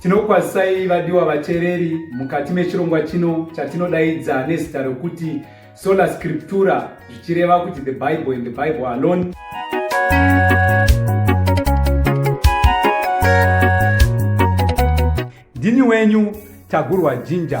Tinokwazisai vadiwa vatereri mukati mechirongwa chino chatinodaidza nezita rokuti Sola Scriptura zvichireva kuti the Bible and the Bible alone. Ndini wenyu Tagurwa Jinja.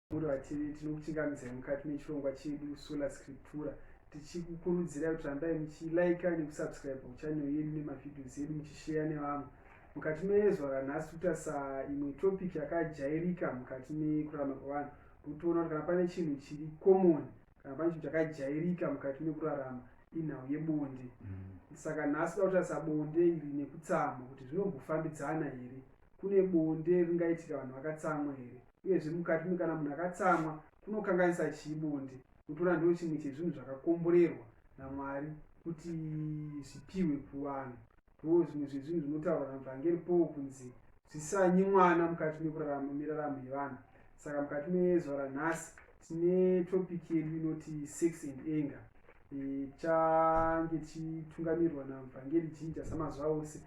Murova TV tinokuchingamidzai mukati mechirongwa chedu Sola Scriptura tichikukurudzirai kuti rambai muchilaika nekusubscribe kuchannel yedu nemavhidhios edu muchisheya nevamwe mukati mezuva ranhasi kutarisa imwe topic yakajairika mukati mekurarama kwevanhu kutoona kuti kana pane chinhu chiri common kana pane chinhu chakajairika mukati mekurarama inhau yebonde mm. saka nhasi da kutarisa bonde iri nekutsamwa kuti zvinombofambidzana here kune bonde ringaitika vanhu vakatsamwa here uyezve mukati mekana munhu akatsamwa kunokanganisa chii bonde kutora ndo chimwe chezvinhu zvakakomborerwa namwari kuti zvipiwe kuvanhu ndo zvimwe zvezvinhu zvinotaurwa navhangeri paul kunzi zvisanyi mwana mukati mekurarama miraramo yevanhu saka mukati mezuva ranhasi tine topic yedu inoti sex and anger tichange tichitungamirirwa navhangeri jinja samazuva ose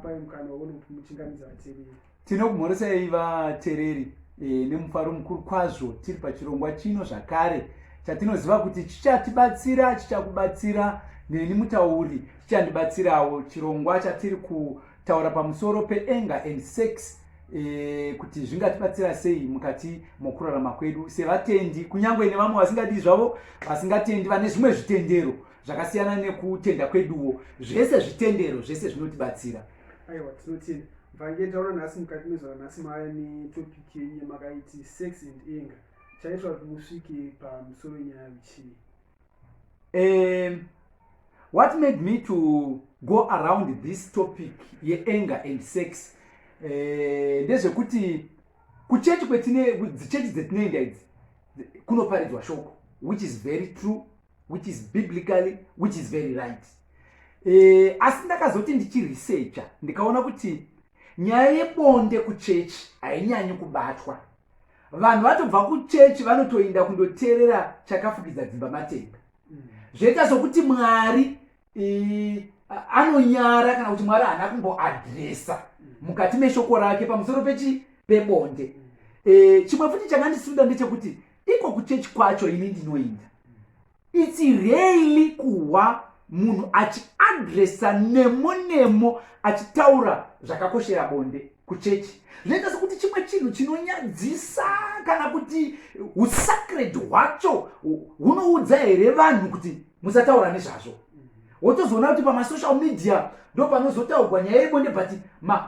pai mukana waone kuti muchingamidza vatereri tinokumhoresai vatereri e, nemufaro mukuru kwazvo tiri pachirongwa chino zvakare chatinoziva kuti chichatibatsira chichakubatsira neni mutauri chichandibatsirawo chirongwa chatiri kutaura pamusoro peenga and sex e, kuti zvingatibatsira sei mukati mokurarama kwedu sevatendi kunyange nevamwe vasingadii zvavo vasingatendi vane zvimwe zvitendero zvakasiyana nekutenda kweduwo zvese zvitendero zvese zvinotibatsira aiwa tinotenda vangee taona nhasi mukati mezvara nhasi maya netopic yenye makaiti sex and anger chaitwa kuti musvike pamusoro wenyaya yechii um what made me to go around this topic yeanger and sex eh, ndezvekuti uh, kuchechi kwetine dzichechi dzetinoenda idzi kunoparidzwa shoko which is very true which is biblically which is very right e, asi ndakazoti ndichiresearcha ndikaona kuti nyaya yebonde kuchechi hainyanyi kubatwa vanhu vatobva kuchechi vanotoinda kundoteerera chakafukidza dzimba matenga mm. zvoita sokuti mwari anonyara kana kuti mwari haana kumboadresa mukati meshoko rake pamusoro pechi pebonde e, chimwe futi chakandisunda ndechekuti iko kuchechi kwacho ini ndinoinda its really kuhwa munhu achiadresa nemo nemo achitaura zvakakoshera bonde kuchechi zvinoita sekuti chimwe chinhu chinonyadzisa kana kuti usacred hwacho hunoudza here vanhu kuti musataura nezvazvo wotozoona kuti pamasocial media ndo panozotaurwa nyaya yebonde but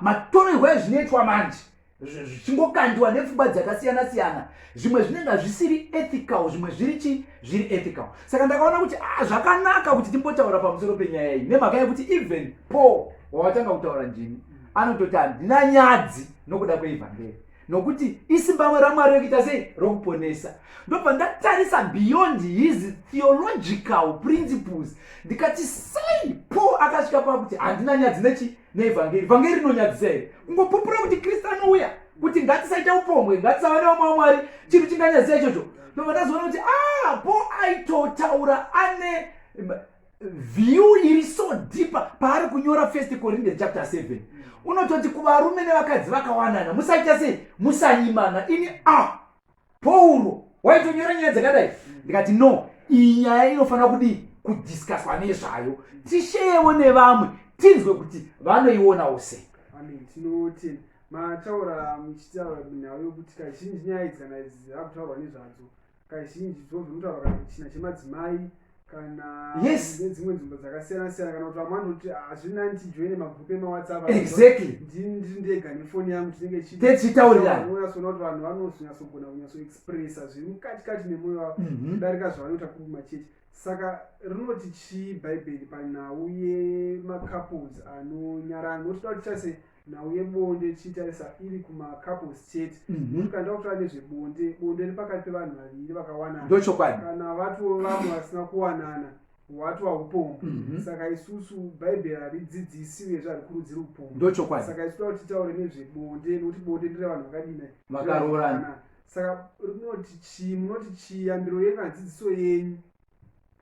matorerwo ma ezvinoitwa manje zvichingokandiwa nepfungwa dzakasiyana siyana zvimwe zvinenge zvisiri ethical zvimwe zviri chi zviri ethical saka ndakaona kuti ah, zvakanaka kuti timbotaura pamusoro penyaya iyi nemhaka yekuti even paul wawatanga kutaura ndimi anototi handina nyadzi nokuda kweivhangeri nokuti isimbamwe ramwari rekuita sei rokuponesa ndobva ndatarisa beyond his theological principles ndikati sei paul akasvika pakuti handina nyadzi nechi neevhangeri vhangeri rinonyadzisa here kungopupura kuti kristu anouya kuti ngatisaita upombwe ngatisava nevamwe wamwari chinhu chinganyadzisa ichocho ndobva ndazoona kuti a ah, paul aitotaura ane view iri so deeper paari kunyora first corinthian chapter 7 unototi kuvarume nevakadzi vakawanana musaita sei musanyimana ini a pauro waitonyora nyaya dzakadai ndikati no iyi nyaya inofanira kudii kudiscuswa nezvayo tisheyevo nevamwe tinzwe kuti vanoionawo sei mataura muchitaura nhau yokuti kazhinji nyaya idzi kana dzakutaurwa nezvadzo kazhinji dzozvinotaura kana china chemadzimai kana yes nedzimwe nzvimbo dzakasiyana siyana kana kuti vamwe vanoti hazvina ah, ndijoine magrupu emawhatsapp exactly ndiri ndega nefoni yangu tinenge chichitauriranonyasoona kuti vanhu vanozonyatsogona kunyatsoexpressa zviri mukati kati nemwoyo wavo mhm. kudarika zvavanoita kuruma chechi saka rinoti chii bhaibheri panhau yemacouples anonyarana notoda kuti chase nhau yebonde tichitarisa iri kumacouples chete mhm. tikanda kutaura nezvebonde bonde riri pakati pevanhu vaviri vakawanana ndochokwadi kana vatiwo vamwe vasina kuwanana hwati waupombwa mhm. saka isusu bhaibheri haridzidzisi uye zvari kurudzira upombwa ndochokwadi saka isu toda kuti titaure nezvebonde nokuti bonde ndire vanhu vakadina vakaroorana saka rinoti chii munoti chiyambiro yenyu adzidziso yenyu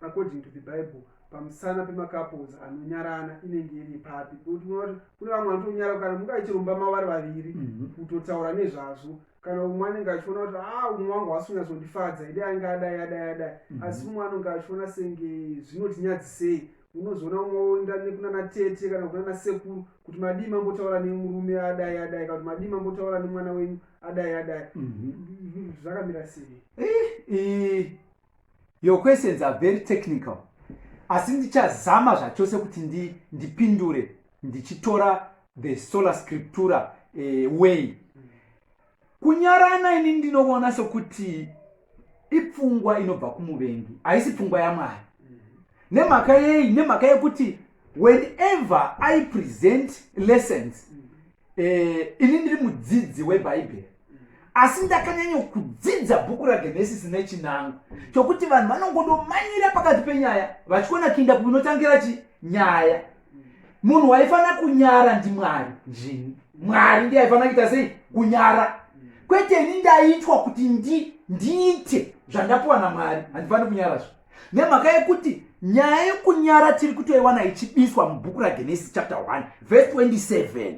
according to the bible pamusana pemacouples anonyarana inenge iri papi kune vamwe vanotonyara kana munge achiromba mavari vaviri mhm. kutotaura nezvazvo kana umwe anenge achiona kuti a ah, umwe wangu hasi unyatsondifadza ide ange adai adai adai mhm. asi umwe anonge achiona senge zvinotinyadzisei unozoona umwe oenda nekunana tete kana kunana sekuru kuti madii mambotaura nemurume adai adai kana kuti madii mambotaura nemwana wenyu adai adai mhm. zvakamira sei eh, eh. Your questions are very technical asi ndichazama zvachose kuti ndi, ndipindure ndichitora the sola scriptura eh, way kunyarana ini ndinoona sokuti ipfungwa inobva kumuvengi haisi pfungwa yamwari nemhaka yei nemhaka yekuti whenever i present lessons Eh, ini ndiri mudzidzi webhaibheri asi ndakanyanyokudzidza bhuku ragenesisi nechinango chokuti vanhu vanongodomanyira pakati penyaya vachiona kuinda kuinotangira chi nyaya munhu waifanira kunyara ndimwari zvini mwari ndi aifanira kuita sei kunyara kwete ini ndaitwa kuti ndi ndiite zvandapuwa namwari handifaniri kunyarazvo nemhaka yekuti nyaya yekunyara tiri kutoiwana ichibiswa mubhuku ragenesi chapter 1 vhesi 27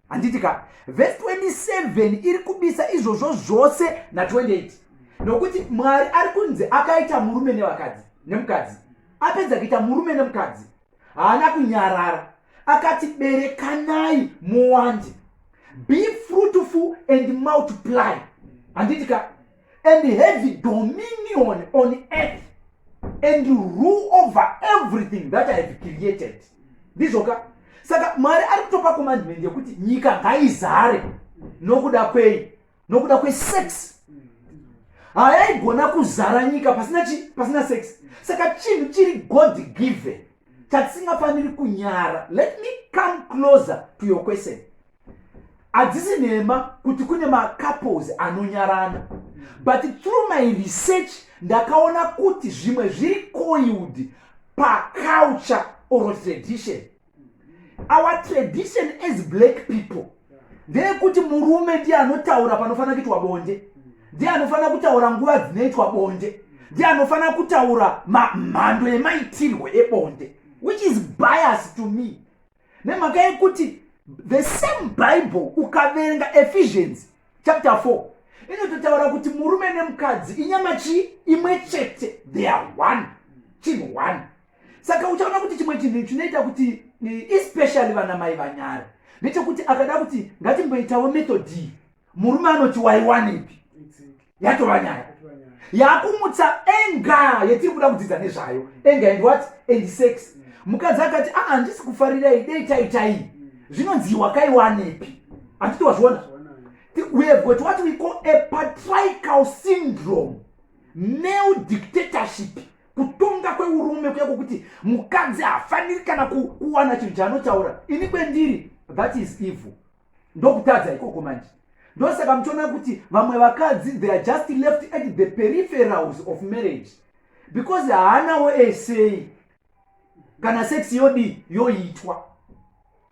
handiti ka vhesi 27 iri kubisa izvozvo zvose na 28 nokuti mwari ari kunzi akaita murume nevakadzi nemukadzi apedza kuita murume nemukadzi haana kunyarara akati berekanai muwande be fruitful and multiply handiti ka and have dominion on earth and rule over everything that i have created ndizvoka saka mwari ari kutopa commandment yekuti nyika ngaizare nokuda kwei nokuda kwesex hayaigona kuzara nyika pasina chi pasina sex saka chinhu chiri god given chatisingafaniri kunyara let me come closer to your question hadzisi nhema kuti kune macouples anonyarana but through my research ndakaona kuti zvimwe zviri coiled paculture or tradition our tradition as black people ndeyekuti murume ndiye anotaura panofanira kuitwa bonde ndiye anofanira kutaura nguva dzinoitwa bonde ndiye anofanira kutaura mhando yemaitirwo ebonde which is bias to me nemhaka yekuti the same bible ukaverenga ephesians chapter 4 inototaura kuti murume nemukadzi inyama chii imwe chete they are one chinhu one saka uchaona kuti chimwe chinhu chinoita kuti especially vana mai vanyare ndechekuti akada kuti ngatimboitawo methodii murume anoti waiwanepi yatova nyaya yakumutsa enga yetiri kuda kudzidza nezvayo enga and what and sex mm. mukadzi akati aa ah, handisi kufarirai dei taitai mm. zvinonzi wakaiwanepi handiti wazviona we have got what we call a patrical syndrome male dictatorship kutonga kweurume kuya kwokuti mukadzi haafaniri kana kuwana chinhu chaanotaura ini kwendiri that is evil ndokutadza ikoko manje ndosaka muchiona kuti vamwe vakadzi they are just left at the peripherals of marriage because haanawo esei kana sex yodii yoitwa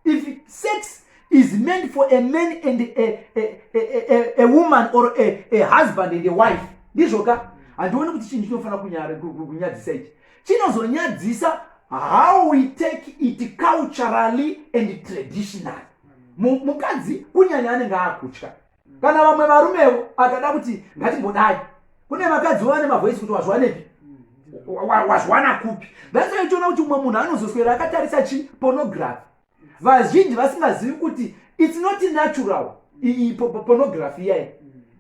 if sex is meant for a man and a, a, a, a, a woman or a, a husband and a wife ndizvo ka handioni kuti chinhu chinofanira kunyadzisa ichi chinozonyadzisa how we take it culturally and traditionally mukadzi kunyanya anenge akutya kana vamwe varumewo akada kuti ngatimbodai kune vakadzi vovane mavoisi kuti wazviwanepi wazviwana kupi that's why tiona kuti umwe munhu anozoswera akatarisa chi pornography vazhinji vasingazivi kuti its not natural iyi pornography iyayi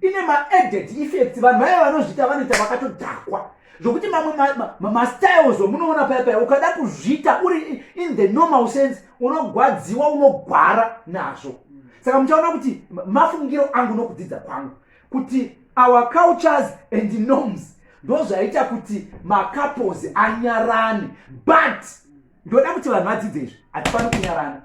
ine maadded effects vanhu vaya vanozviita vanoita vakatodhakwa zvokuti mamwe mastyles omunoona paya paya ukada kuzviita uri in the normal sense unogwadziwa unogwara nazvo saka muchaona kuti mafungiro angu nokudzidza kwangu kuti our cultures and norms ndozvaita kuti macouples anyarane but ndoda kuti vanhu vadzidze izvi hatipani kunyarana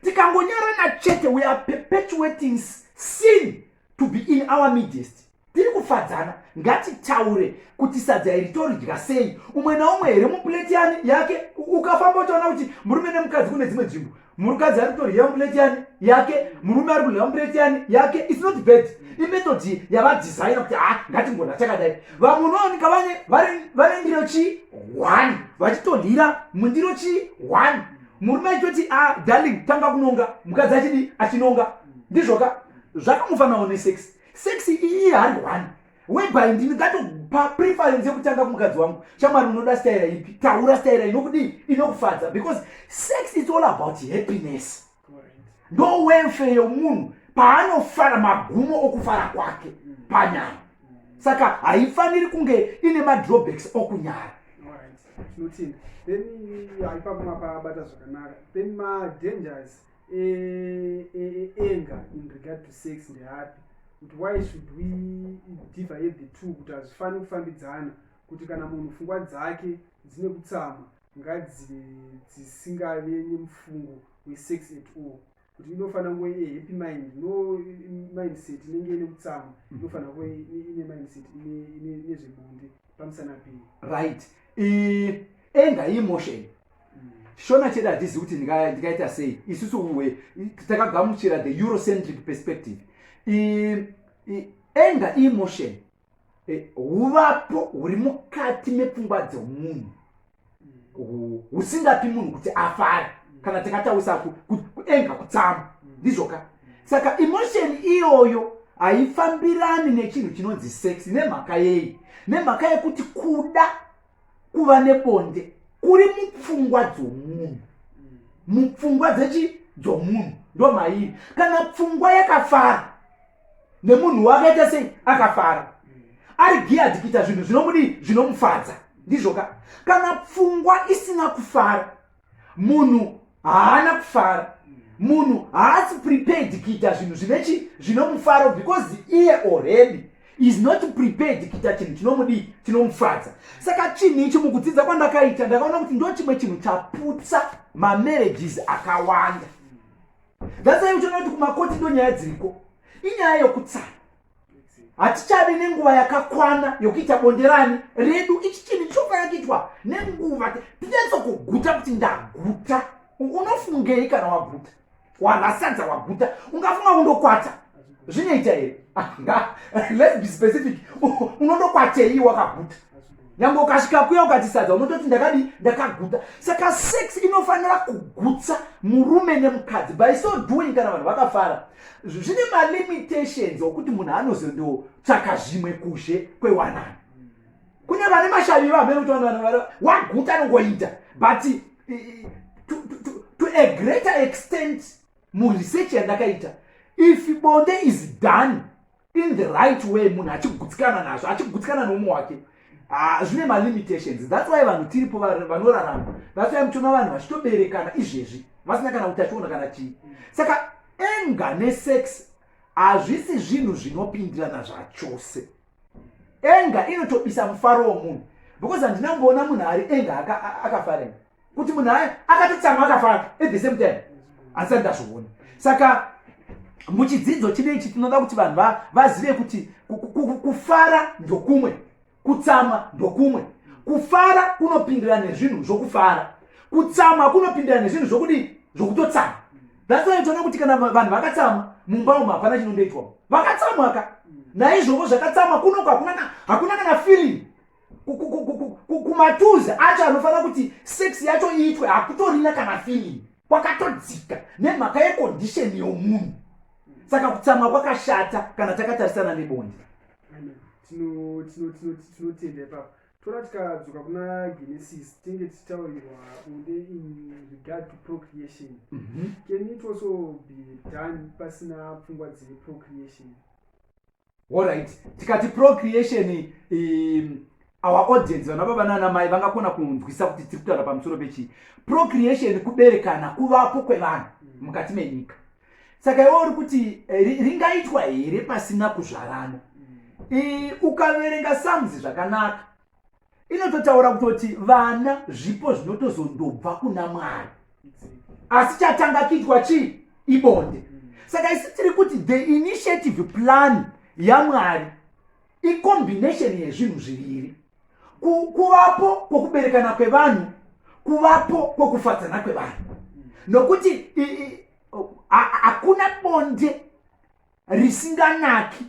tikangonyarana chete we are perpetuating sin to be in our midest tiri kufadzana ngatitaure kuti sadza iri toridya sei umwe naumwe here mupuleti yani yake ukafamba uchaona kuti murume nemukadzi kune dzimwe nzvimbo mukadzi ari kutorya mupuleti yani yake murume ari kurya mupuleti yani yake its not bad imetodi yavadesigna kuti ha ngatingona chakadai vamwe unowanika vane vane ndiro chii one vachitodyira mundiro chii one murume achitoti a ah, darling tanga kunonga mukadzi achidi achinonga ndizvoka zvakamufanao nesex sex iyi hari one whereby ndini ngatopa preference yekutanga kumukadzi wangu shamwari unoda staira ipi taura staira inokudii inokufadza because sex is all about happiness ndo welfare yomunhu paanofara magumo okufara kwake mm. panyaya mm. saka haifaniri kunge ine madrawbacks okunyara tinotenda then haipa kumapabata zvakanaka then madangers eh, eh, eh, anger in regard to sex ndeapi kuti why should we divide the two kuti hazvifaniri kufambidzana kuti kana munhu pfungwa dzake dzine kutsama ngadzive dzisingave nemufungo wesex at all kuti inofanira kuve ine happy mind no mindset inenge ine kutsama mm. inofanira kuve ine mindset ine zvebonde pamusana pei right enga imotion shona chedu hatizivi kuti ndikaita sei isusu uwe takagamuchira the eurocentric perspective anger emotion e, huvapo huri mukati mepfungwa dzemunhu husingapi munhu kuti afare kana takataurisa kuenga kutsama ndizvoka saka emotion iyoyo haifambirani nechinhu chinonzi sex nemhaka yei nemhaka yekuti kuda kuva nebonde kuri mupfungwa dzomunhu mupfungwa dzechi dzomunhu ndo mairi kana pfungwa yakafara nemunhu wakaita sei akafara ari giyadi kuita zvinhu zvinomudii zvinomufadza ndizvoka kana pfungwa isina kufara munhu haana kufara munhu haasi prepared kuita zvinhu zvine chi zvinomufaro because iye already is not prepared kuita chinhu chinomudii chinomufadza saka chinhu ichi mukudzidza kwandakaita ndakaona kuti ndo chimwe chinhu chaputsa mamarriages akawanda that's why uchiona kuti kumakoti ndo nyaya dziriko inyaya yokutsana hatichade nenguva yakakwana yokuita bonderani redu ichi chinhu chinofanira kuitwa nenguva tinyatso kuguta kuti ndaguta unofungei kana waguta wanasadza waguta ungafunga undokwata zvinoita here let's be specific unondokwatei wakaguta nyangwe ukasvika kuya ukatisadza unototi ndakadi ndakaguta saka sex inofanira kugutsa murume nemukadzi by so doing kana vanhu vakafara zvine malimitations okuti munhu anozondotsvaka zvimwe kuzhe kwewanani kune vane mashavi vamene kuti vanhu waguta anongoita but to, to, to, to a greater extent muresearch yandakaita if bonde is done in the right way munhu achigutsikana nazvo achigutsikana noumwe wake ah, zvine malimitations thats why vanhu tiripo vanorarama thats why muchiona vanhu vachitoberekana izvezvi vasina kana utachiona kana chii saka enga nesex hazvisi zvinhu zvinopindirana zvachose enga inotobisa mufaro womunhu because handina kumboona munhu ari enga akafarena kuti munhu aye akatotsamwa akafara at the same time asati ndazviona saka muchidzidzo chine ichi tinoda kuti vanhu vazive kuti kufara ndokumwe kutsamwa ndokumwe kufara kunopindira nezvinhu zvokufara kutsamwa kunopindira nezvinhu zvokudii zvokutotsamwa thats why toona kuti kana vanhu vakatsamwa mumba umu hapana chinondoitwa vakatsamwaka naizvoko zvakatsamwa kunoko hakuna kana feeling kumatuzi acho anofanira kuti sex yacho iitwe hakutorina kana feeling kwakatodzika nemhaka yekondisheni yomunhu saka kutsamwa kwakashata kana takatarisana nebonde tinotenda ipapo toda tikadzoka kuna genesis tinge tichitaurirwa bunde in regard to procreation mhm. can it also be done pasina pfungwa dzeprocreation Alright, tikati procreation um, our audience vana baba nana mai vangakona kunzwisa kuti tiri kutaura pamusoro pechii. Procreation kuberekana kuvapo kwevanhu mukati menyika. Saka iwe uri kuti eh, ringaitwa here pasina kuzvarana? Mm. Ukaverenga sums zvakanaka inototaura kutoti vana zvipo zvinotozondobva kuna mwari asi chatanga kuitwa chii ibonde saka isi tiri kuti the initiative plan yamwari icombination yezvinhu zviviri kuvapo kwokuberekana kwevanhu kuvapo kwokufadzana kwevanhu nokuti hakuna bonde risinganaki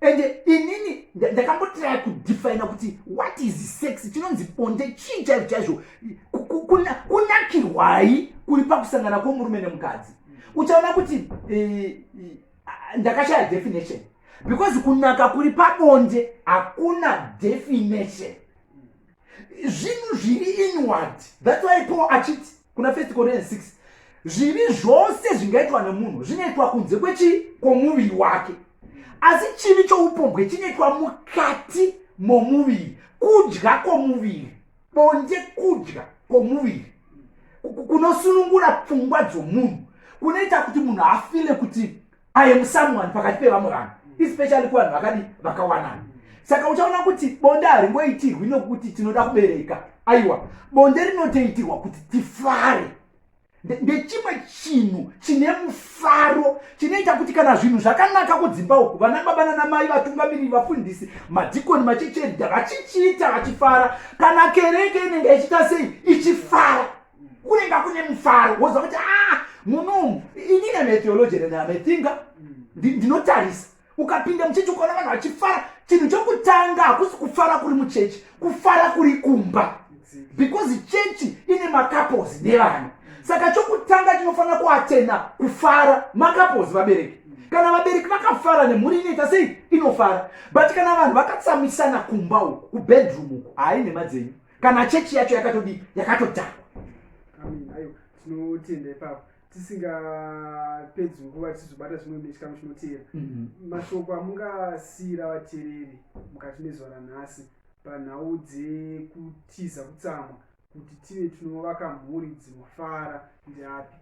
and inini ndakambotira kudefina kuti what is sex chinonzi bonde chii chaizvo chaizvo kunakirwai kuri pakusangana kwomurume nemukadzi uchaona kuti eh, ndakashaya definition because kunaka kuri pabonde hakuna definition zvinhu zviri inward thats why paul achiti kuna first corinthians 6 zvivi zvose zvingaitwa nemunhu zvinoitwa kunze kwechii kwomuviri wake asi chivi choupombwe chinoitwa mukati momuviri kudya kwomuviri bonde kudya kwomuviri kunosunungura pfungwa dzomunhu kunoita kuti munhu afile kuti i am someone pakati pevamwe vanhu especially kuvanhu vakadi vakawanana saka uchaona kuti bonde haringoitirwi nokuti tinoda kubereka aiwa bonde rinotoitirwa kuti tifare ndechimwe chinhu chine mufaro chinoita kuti kana zvinhu zvakanaka kudzimba uku vana baba nanamai vatungamiriri vafundisi madhikoni machecherida vachichiita vachifara kana kereke inenge ichiita sei ichifara kunenge kune mufaro woziva kuti ah, munomu inini am atheologian am athinga ndinotarisa ukapinda muchechi ukaona vanhu vachifara chinhu chokutanga hakusi kufara kuri muchechi kufara kuri kumba because chechi ine makapozi nevana saka chokutanga chinofanira kuatena kufara makapozi vabereki kana vabereki vakafara nemhuri inoita sei inofara but kana vanhu vakatsamwisana kumba uku kubedroom uku hayi nhema dzenyu kana chechi yacho yakatodii yakatodhakwa tinotenda ipapo tisingapedzi nguva tichizobata zvimwe mechikamu chinoteera mhm. mashoko amungasiira vateereri mukati mezuva ranhasi panhau dzekutiza kutsamwa kuti tive tinovaka mhuri dzinofara ndeapi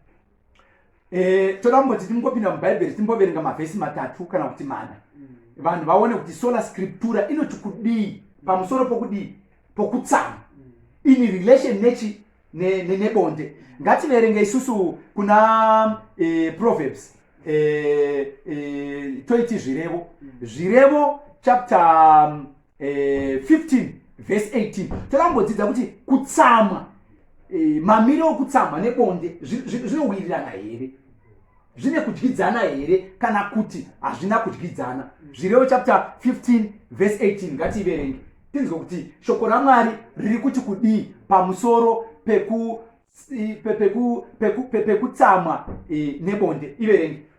e, toda kumboti timbopinda mubhaibheri timboverenga mavhesi matatu kana kuti mana mm. vanhu vaone kuti sola scriptura inoti kudii pamusoro pokudii pokutsama mm. in relation nechi nebonde ne, ne ngativerenge isusu kuna e, proverbs e, e, toiti zvirevo mm. zvirevo chapter eh, 15 vhesi 18 toda kumbodzidza kuti kutsamwa eh, mamiro okutsamwa nebonde zvinowirirana here zvine kudyidzana here kana kuti hazvina kudyidzana zvirevo chapter 15 vhesi 18 ngatiiverenge tinzwe kuti shoko ramwari riri kuti kudii pamusoro pekutsamwa eh, nebonde iverenge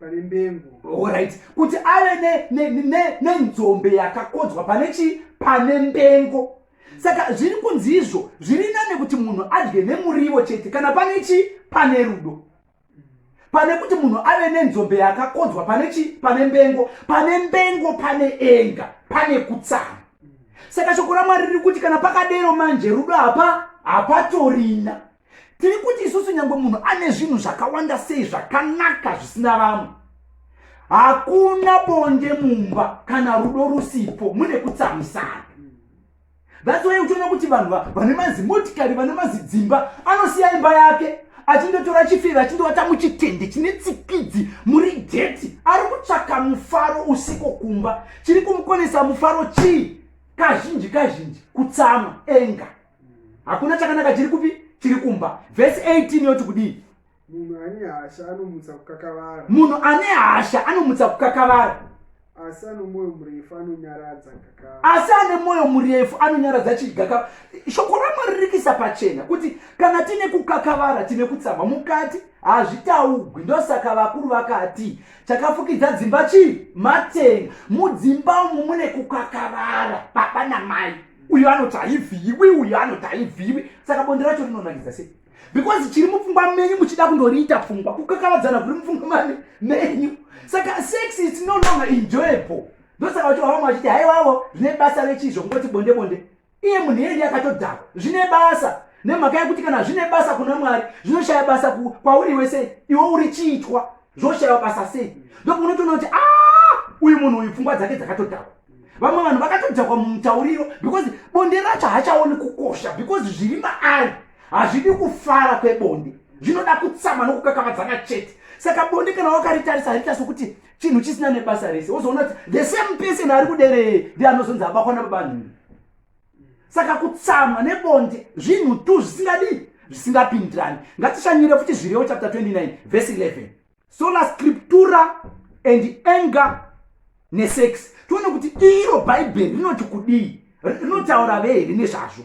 pane mbengo orit kuti ave nenzombe ne, ne, ne yakakodzwa pane chii pane mbengo saka zviri kunzi izvo zviri nane kuti munhu adye nemurivo chete kana pane chii pane rudo pane kuti munhu ave nenzombe yakakodzwa pane chii pane mbengo pane mbengo pane enga pane kutsama saka shoko ramwari riri kuti kana pakadero manje rudo hapa hapatorina tiri kuti isusu nyange munhu ane zvinhu zvakawanda sei zvakanaka zvisina vamwe hakuna bonde mumba kana rudo rusipo mune kutsamisana that's why uchiona kuti vanhu vane mazimotikari vane mazidzimba anosiya imba yake achindotora chifeve achindovata muchitende chine tsikidzi muri geti ari kutsvaka mufaro usiko kumba chiri kumukonesa mufaro chii kazhinji kazhinji kutsama enga hakuna chakanaka chiri kupi chiri kumba vhesi 18 yoti kudii munhu ane hasha anomutsa kukakavara munhu ane hasha anomutsa kukakavara asi ane mwoyo murefu anonyaradza asi ane mwoyo murefu anonyaradza chigaka shoko ramwari ririkisa pachena kuti kana tine kukakavara tine kutsama mukati hazvitaugwi ndosaka vakuru vakati chakafukidza dzimba chii matenga mudzimba umu mune kukakavara baba namai uyu anoti haivhiiwi uyu anoti haivhiiwi saka bonde racho rinonakidza sei because chiri mupfungwa menyu muchida kundoriita pfungwa kukakavadzana kuri mupfungwa menyu saka sex is no longer enjoyable ndosaka vacho vavamwe vachiti haiwavo zvine basa rechizvo kungoti bonde bonde iye munhu yeye ndiye akatodhakwa zvine basa nemhaka yekuti kana zvine basa kuna mwari zvinoshaya basa kwauri wese iwe uri chiitwa zvoshaiwa basa sei ndokunotoona kuti a ah, uyu munhu uyu pfungwa dzake dzakatodhakwa vamwe vanhu vakatodhakwa mumutauriro because bonde racho hachaoni kukosha because zviri maari hazvidi kufara kwebonde zvinoda kutsama nokukakavadzana chete saka bonde kana wakaritarisa harita sokuti chinhu chisina nebasa rese wozoona kuti the same person ari kuderee ndi anozonzi abakwa nababanhu saka kutsamwa nebonde zvinhu tu zvisingadii zvisingapindirani ngatishanyire futi zvirewo chapter 29 vhesi 11 sola scriptura and anger nesex tione kuti iro bhaibheri rinoti kudii rinotaura ve here nezvazvo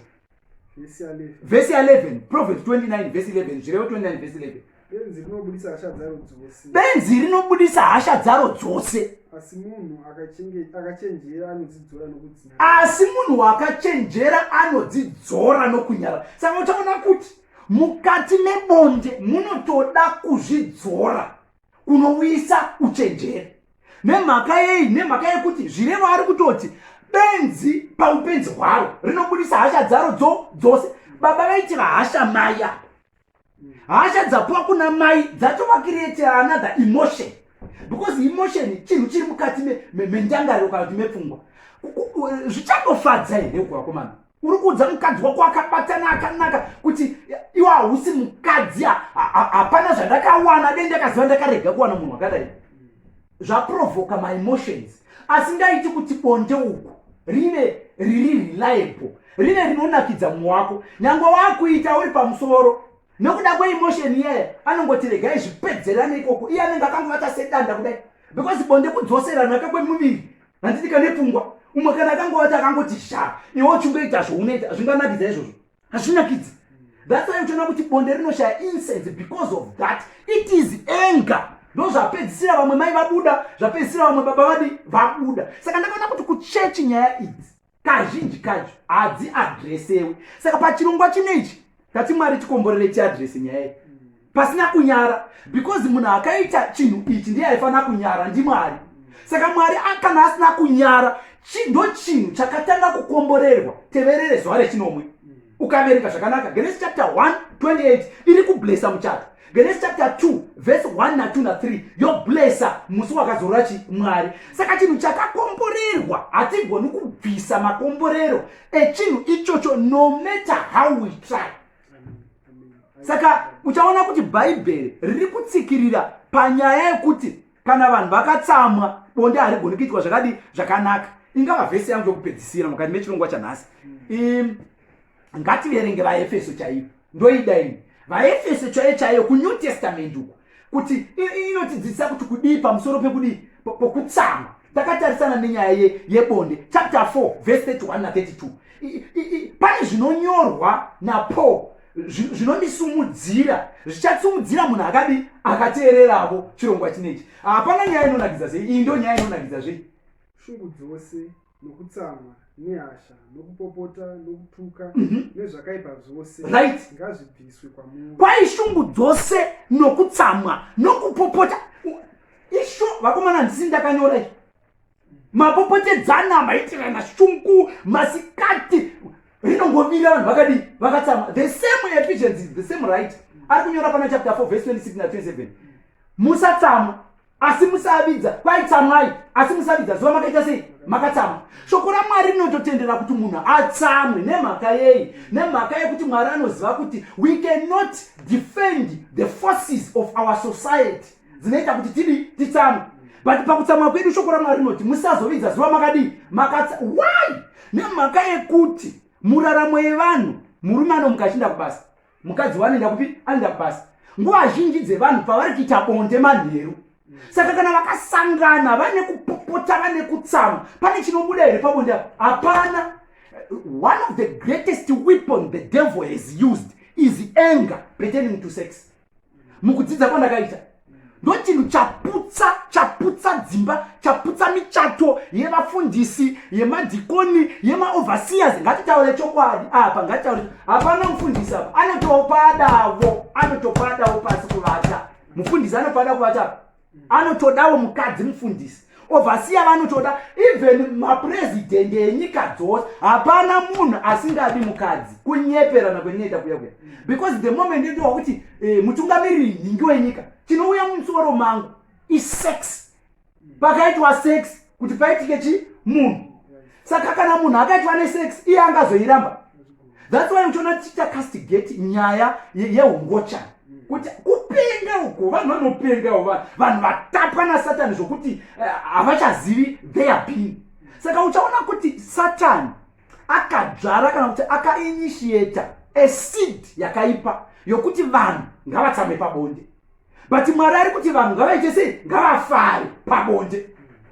vhesi 11 provet 29 vhesi 11 zvirevo 29 vhesi 11 benzi rinobudisa hasha dzaro dzose benzi rinobudisa hasha dzaro dzose asi munhu akachenjera anodzidzora nokudzinyara asi munhu wakachenjera anodzidzora nokunyara saka uchaona kuti mukati mebonde munotoda kuzvidzora kunouyisa uchenjeri nemhaka yei nemhaka yekuti zvirevo ari kutoti benzi paupenzi hwaro rinobudisa hasha dzaro dzo dzose baba vaitira hasha mai apa hasha dzapuwa kuna mai dzatovakiretera another emotion because emotion chinhu chiri mukati mendangariro kana kuti mepfungwa zvichangofadza here kuvakomana uri kuudza mukadzi wako akabatana akanaka kuti iwe hausi mukadzi hapana zvandakawana dai ndakaziva ndakarega kuwana munhu akadai zvaprovoka maemotions asi ndaiti kuti bonde uku rive riri reliable rive rinonakidza munhu wako nyange waakuita uri pamusoro nokuda kweemotion iyeye anongoti regai zvipedzerane ikoko iye anenge akangovata sedanda kudai because bonde kudzoseranaka kwemuviri handiti kane pfungwa umwe kana akangowati akangoti sha iwo uchingoita zvounoita hazvinganakidza izvozvo hazvinakidzi thats why uchiona kuti bonde rinoshaya incense because of that it is anger ndo zvapedzisira vamwe mai vabuda zvapedzisira vamwe baba vadi vabuda saka ndakaona kuti kuchechi nyaya idzi kazhinji kacho hadziadresewi saka pachirongwa chino ichi tati mwari tikomborere tiadrese nyaya iyi pasina kunyara because munhu akaita chinhu ichi ndiye aifanira kunyara ndimwari saka mwari kana asina kunyara ndo chinhu chakatanga kukomborerwa teverere zuva rechinomwe ukaverenga zvakanaka genesi chapter 1 28 iri kublesa muchato genesi chapter 2 vhesi 1 na 2 na 3 yoblesa musi wakazorora chi mwari saka chinhu chakakomborerwa hatigoni kubvisa makomborero echinhu ichocho no matter how we try saka uchaona kuti bhaibheri riri kutsikirira panyaya yekuti kana vanhu vakatsamwa bonde harigoni kuitwa zvakadi zvakanaka ingava vhesi yangu yokupedzisira mukati mechirongwa chanhasi mm. ngativerenge vaefeso chaiyo ndoida ini vaefeso chaiyo chaiyo kunew testament uku kuti inotidzidzisa kuti kudii pamusoro pekudii pokutsamwa takatarisana nenyaya yebonde chapter 4 vhesi 31 na 32 pane zvinonyorwa napaul zvinondisumudzira zvichatsumudzira munhu akadi akateereravo chirongwa chinechi hapana nyaya inonakidza sei iyi ndo nyaya inonakidza zvei shungu dzose nokutsamwa nehasha nokupopota nokutuka mhm. nezvakaipa zvose right ngazvibviswe kwamuri kwai shungu dzose nokutsamwa nokupopota isho vakomana handisi ndakanyora i mapopotedzana maitirana shungu masikati rinongovira vanhu vakadii vakatsama the same efficiency the same right ari kunyora pana chapter 4 verse 26 na 27 musatsamwa asi musavidza kwaitsamwai asi musavidza zuva makaita sei makatsamwa shoko ramwari rinototendera kuti munhu atsamwe nemhaka yei nemhaka yekuti mwari anoziva kuti we cannot defend the forces of our society dzinoita kuti tidi titsamwe but pakutsamwa kwedu shoko ramwari rinoti musazovidza zuva makadii makatsa why nemhaka yekuti muraramo yevanhu murume anomuka achiinda kubasa mukadzi wanoenda kupi anoenda kubasa nguva zhinji dzevanhu pavari kuita bonde manheru saka kana vakasangana vane kupopota vane kutsamwa pane chinobuda here pabonde hapana one of the greatest weapon the devil has used is anger pretending to sex mukudzidza kwandakaita ndochinhu chaputsa chaputsa dzimba chaputsa michato yevafundisi yemadhikoni yemaoverseers ngatitaure chokwadi apa ngatitaure hapana mufundisi apa anotopadavo anotopadavo pasi kuvata mufundisi anopada kuvata anotodawo mukadzi mufundisi ovhasiya vanotoda even mapresident enyika dzose hapana munhu asingadi mukadzi kunyeperana kwendinoita kuya kuya because the moment ndotowa kuti eh, mutungamiriri nhingi wenyika chinouya mumusoro mangu isex pakaitwa sex kuti paitike chi munhu saka kana munhu akaitwa nesex iye angazoiramba thats why uchiona tichiita castigate nyaya yeungochana kuti kupenga uko vanhu vanopengawo vanhu vanhu vatapwa nasatani zvokuti eh, havachazivi uh, their being saka uchaona kuti satani akadzvara kana kuti akainitiata a seed yakaipa yokuti vanhu ngavatsambe pabonde but mwari ari kuti vanhu ngavaite sei ngavafare pabonde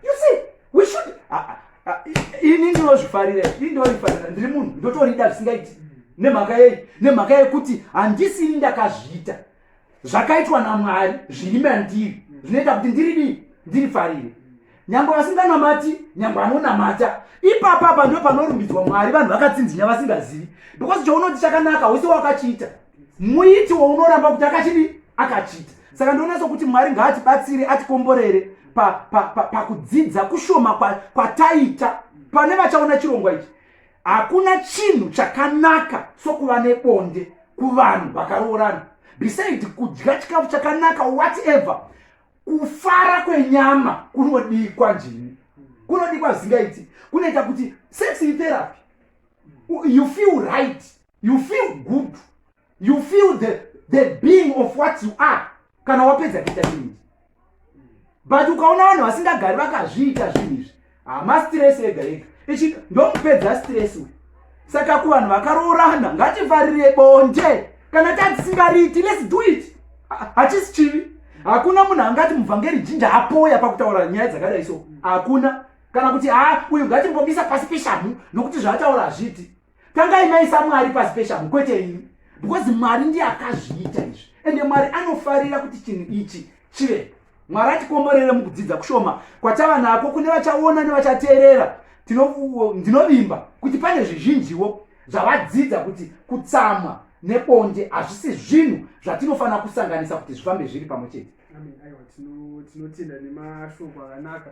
you see we should ah, ah, ah, ini ndinozvifarira ini ndorifarira ndiri munhu ndotorida zvisingaiti nemhaka yei nemhaka yekuti handisini ndakazviita zvakaitwa namwari zviri mandiri zvinoita kuti ndiri dii ndirifarire nyangwe vasinganamati nyangwe anonamata ipapapa ndo panorumbidzwa mwari vanhu vakatsinzinya vasingazivi because chounoti chakanaka wese wakachiita muiti wounoramba kuti akachidi akachita saka ndionatso kuti mwari ngaatibatsire atikomborere pakudzidza pa, pa, pa kushoma kwataita kwa pane vachaona chirongwa ichi hakuna chinhu chakanaka sokuva nebonde kuvanhu vakaroorana beside kudya chikafu chakanaka whatever kufara kwenyama kunodikwa njini kunodikwa zingaiti kunoita kuti sex therapy you feel right you feel good you feel the, the being of what you are kana wapedza kuita zvinhu izvi but ukaona vanhu vasingagari vakazviita zvinhu izvi hama stress ega ega ichi ndomupedza stress uyu saka kuvanhu vakaroorana ngativarire bonde kana tatisingariiti lets do it hachisi chivi hakuna munhu angati muvhangeri jinja apoya pakutaura nyaya dzakadai so hakuna kana kuti ha uyu ngatimbomisa pasi peshamhu nokuti zvaataura hazviiti tangai maisa mwari pasi peshamhu kwete ini because mwari ndiye akazviita izvi ende mwari anofarira kuti chinhu ichi chive mwari atikomborere mukudzidza kushoma kwatava nako kune vachaona nevachateerera ndinovimba kuti pane zvizhinjiwo zvavadzidza kuti kutsamwa nebonde hazvisi zvinhu zvatinofanira kusanganisa kuti zvifambe zviri pamwe chete tinotenda nemashoko akanaka